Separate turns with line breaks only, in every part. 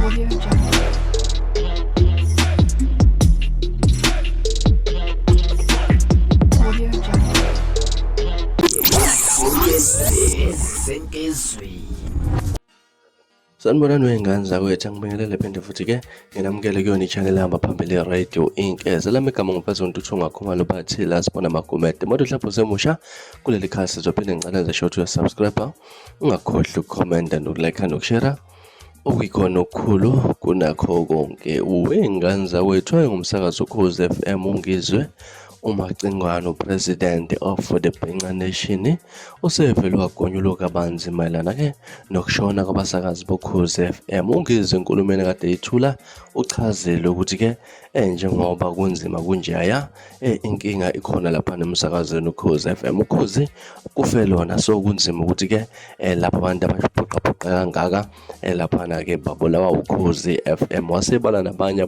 Audio Jungle. Audio
Jungle. sanibonani wey'ngane zakwethu angibingelele phinde futhi ke nginamukele kuyona i-channel ehamba phambili radio inc eze lami igama ngumfazonto uthunga khumalo bathi la sibona magumede moto mhlawumbe usemusha kuleli khasi zophinde ngicela nje short uyasubscribe ungakhohlwa ukukhomenta nokulike nokushera Okuyikhona okukhulu kunakho konke uwe ngane zakwethu ayengumsakazi ukhozi FM ungizwe uMacingwane uPresident of the Bhenca Nation usevele wagonyuluka kabanzi mayelana ke nokushona kwabasakazi bokhozi FM ungizwe enkulumeni kade yithula uchazile ukuthi ke Eh njengoba kunzima kunjaya eh inkinga ikhona lapha nemsakazweni ukhozi FM ukhozi kufe lona so kunzima ukuthi ke eh lapha abantu abashiphoqa phoqa kangaka eh lapha na ke babulawa ukhozi FM wasebala nabanye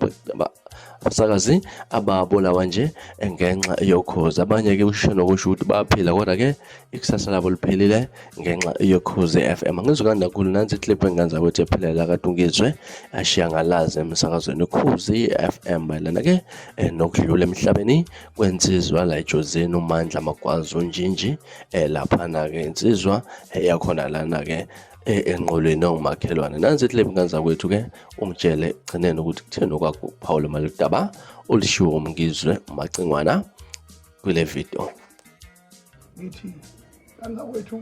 abasakazi ababulawa nje eh, ngenxa yokhozi abanye ke usho nokusho ukuthi baphila kodwa ke ikusasa labo liphelile ngenxa yokhozi FM angizukanda kakhulu nansi clip engenza ukuthi ephelele akatungizwe ashiya ngalazi emsakazweni ukhozi FM bayilana ke eh, nokudlula emhlabeni kwensizwa la ejozini umandla magwazi unjinji eh, laphana ke insizwa eh, yakhona lana ke E, enqolweni ongumakhelwane nansi ihlebe nganza kwethu ke ungitshele ekugcineni ukuthi kutheni okwakho ukuphawula maludaba olishiwo umngizwe umacingwana kule video
ngithi kanza kwethu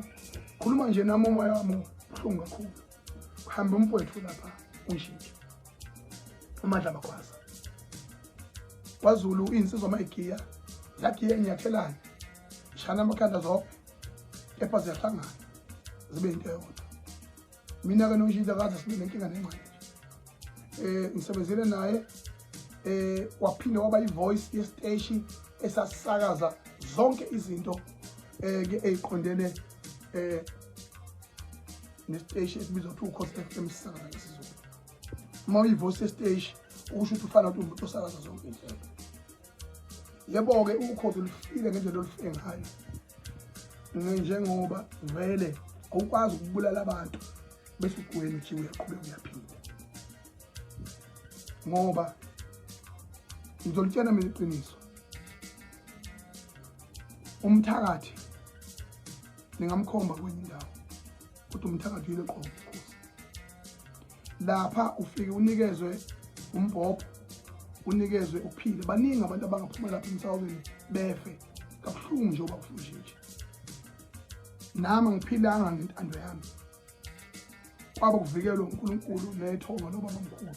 khuluma nje nami umoya wami ubuhlungu kakhulu kuhambe umfowethu lapha unshintshe umadla makhwaza kwazulu iy'nsizwa mayigiya yagiya inyathelane ishana amakhanda zonke kepha ziyahlangana zibe yinto eyodwa mina-ke nomshintsha kaze sibe nenkinga nengqondo um eh, ngisebenzele naye um waphinde waba i-voice yesiteshi esasisakaza zonke izinto um ke eyiqondene um nesiteshi esibizwa kuthiwa ukhosi f m sisakaza isizulu uma uyi-voice yesiteshi ukusho ukuthi ufana uthi umuntu osakaza zonke inhlelo yebo-ke ukhozi olufile ngendlela olufike ngayo njengoba vele awukwazi ukubulala abantu bese ugwena uthi uyaqhubeka uyaphila ngoba ngizolitshena mina iqiniso umthakathi ningamkhomba kwenye indawo kodwa umthakathi uyile qobo lapha ufike unikezwe umbhobho unikezwe uphile baningi abantu abangaphuma lapha emsawulweni befe kabuhlungu nje uba kufunjinje nami ngiphilanga ngentando yami kwaba kuvikelwe unkulunkulu nethonga lobabamkhulu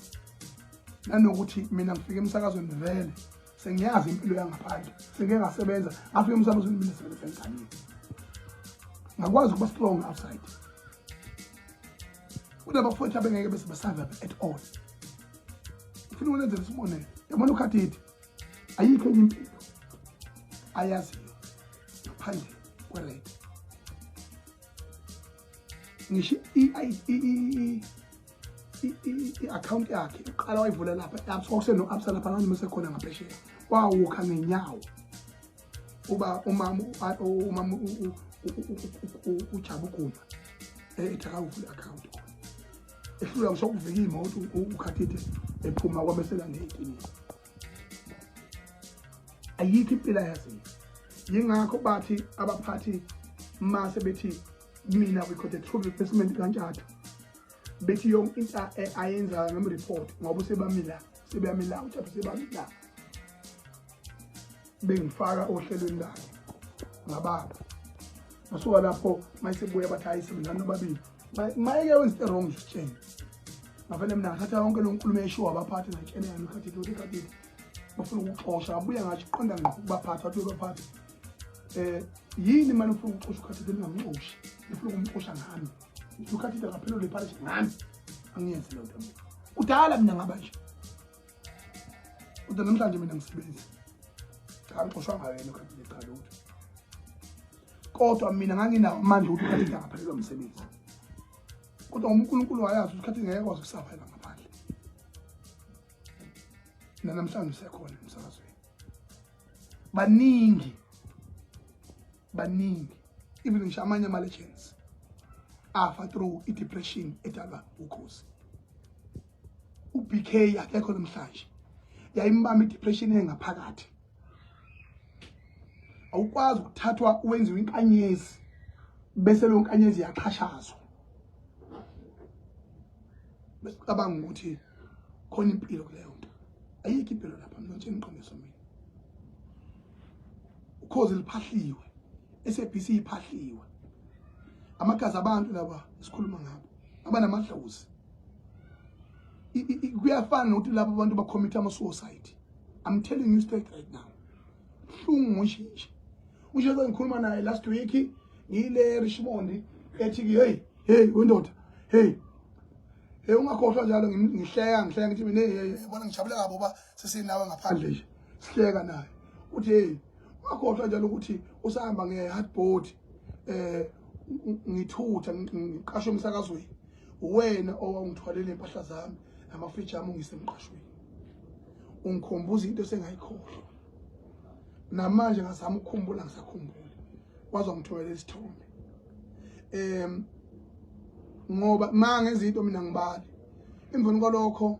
nanokuthi mina ngifike emsakazweni vele sengiyazi impilo yangaphandle sengike ngasebenza ngafika umsamo zimile sebenza enganini ngakwazi ukuba strong outside kunabafowethu abengeke bese basurvive at all ngifuna ukunenzela isibonelo yabona ukhathithi ayikho enye impilo ayaziyo ngaphandle kwered ngisho i-akhawunti yakhe iqala wayivula lapha e-absa kwakuseno-absa lapha abantu mesekhona ngaphesheya wawukha ngenyawo uba umama umama ujaba uguma ethi akawuvule i-akhawunti ehlula ngisho ukuvika iy'moto ukhathide ephuma kwamesela ngey'kiliya ayikho impila yazinto yingakho bathi abaphathi mase bethi mina we got a true replacement kantshathu bethi yonke into ayenzayo ngam-report ngoba usebamila sebeyamila uthatha sebamila bengifaka ohlelweni lakhe ngababa ngasuka lapho mayesebuya bathi hayi sebenzani nobabili mayeke wenza into wrong sitsheni ngavele mina ngathatha yonke lo nkulumo eshiwo abaphathi ngayitshela yami ikhathile ukuthi ikhathile bafuna ukuxosha abuye ngathi qonda ngqo kubaphathi wathi ubaphathi um eh, yini mani ufuna ukuxosha ukhathile ningamxoshi nifuna ukumxosha ngami ukhathile ngaphelelwa ipharish ngami angiyenzi leyo nto kudala mina ngaba nje kodwa namhlanje mina ngisebenzi cha ngixoshwa ngayo yena ukhathile cha lutho kodwa mina nganginawo amandla ukuthi ukhathile angaphelelwa msebenzi kodwa uma unkulunkulu wayazi ukuthi ukhathile ngeke kwazi ukusafela ngaphandle nanamhlanje usekhona emsakazweni baningi baningi even ngisho amanye ama-legends afa through i-depression edalwa ukhozi u-bk akekho namhlanje yayimbamba i-depression engaphakathi awukwazi ukuthathwa wenziwe inkanyezi bese lo nkanyezi yaxhashazwa bese ucabanga ukuthi khona impilo kuleyo nto ayikho impilo lapha mntsheni iqiniso mina ukhozi liphahliwe SABC iphahliwe amagazi abantu laba sikhuluma ngabo abanamadlozi kuyafana nokuthi laba abantu bakhomitha ama suicide i'm telling you straight right now hlungu ngoshintshe ushe ngikhuluma naye last week ngile Richmond ethi hey hey wendoda hey hey ungakhohlwa njalo ngihleka ngihleka ngithi mina hey yabona ngijabule kabi uba sesinawe ngaphandle nje sihleka naye uthi hey wakhohlwa njalo ukuthi usahamba nge-hardboard eh ngithutha ngiqashwe emsakazweni uwena owawungithwalele impahla zami namafriji ami ungisemqashweni ungikhumbuza into esengayikhohlwa namanje ngazama ukukhumbula ngisakhumbula waze wangithumelela isithombe um ngoba ma ngenza into mina ngibali emveni kwalokho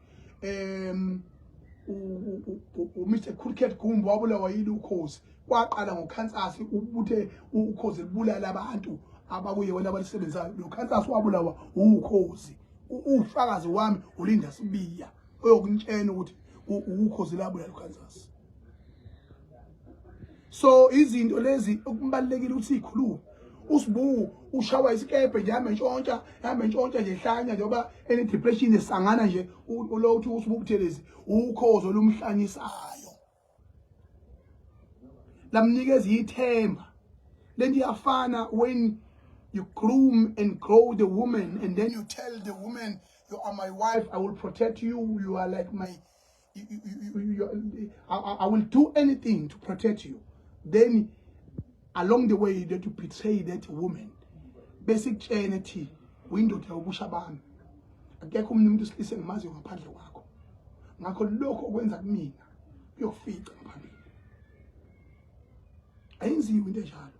um uMr Cricket Gumbo wabulawa yini ukhozi kwaqala ngokhansasi ubuthe ukhozi libulala abantu abakuye wena abalisebenzayo lo khansasi wabulawa ukhozi ufakazi wami ulinda sibiya oyokuntshena ukuthi ukhozi labulala ukhansasi so izinto lezi okubalekile ukuthi ikhulume usibu ushawa isikebhe nje hambe ntshontsha hambe ntshontsha nje hlanya njengoba ene depression esangana nje lo uthi usibu kuthelezi ukhozo lomhlanyisayo lamnikeza ithemba lento iyafana when you groom and grow the woman and then you tell the woman you are my wife i will protect you you are like my I, I will do anything to protect you then along the way that you betray that woman besikutshene thi uyindoda yokusha abantu akekho umuntu umuntu usilise ngimaziyo ngaphandle kwakho ngakho lokho okwenza kumina kuyokufica ngaphambili ayinziwe into enjalo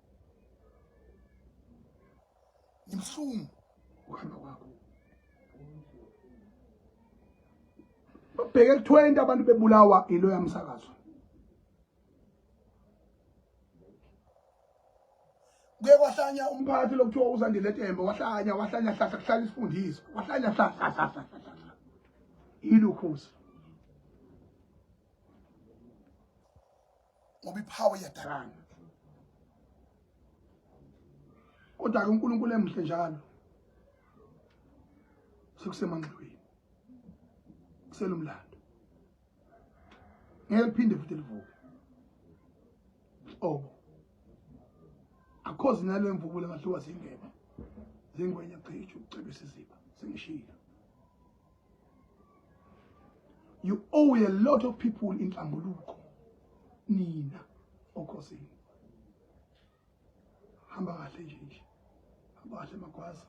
Ngimhlungu. Uhamba kwakho. Babheke kuthiwa into abantu bebulawa ilo yamsakazo. kuye kwahlanya umphathi lokuthiwa uzandile tembe wahlanya wahlanya hlahla kuhlala isifundiso wahlanya hlahla ilukhuzi ngoba iphawu iyadakana kodwa-ke unkulunkulu emuhle njalo sekusemangxibeni kuselomlando ngeke liphinde futhi livuke obo akhozi nalo emvubula ngahluka zingene zingwenya cisho ucebisa iziba sengishilo you owe a lot of people inhlambuluko nina okhosini hamba kahle nje nje hamba kahle magwaza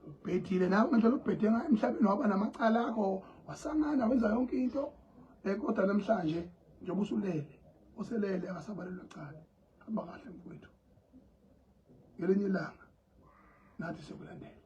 ubhedile nawe ngendlela ubhede ngayo emhlabeni waba namacala akho wasangana wenza yonke into eh, kodwa namhlanje njengoba usulele uselele akasabalelwa cala hamba kahle mfowethu ngelinye ilanga nathi sokulandela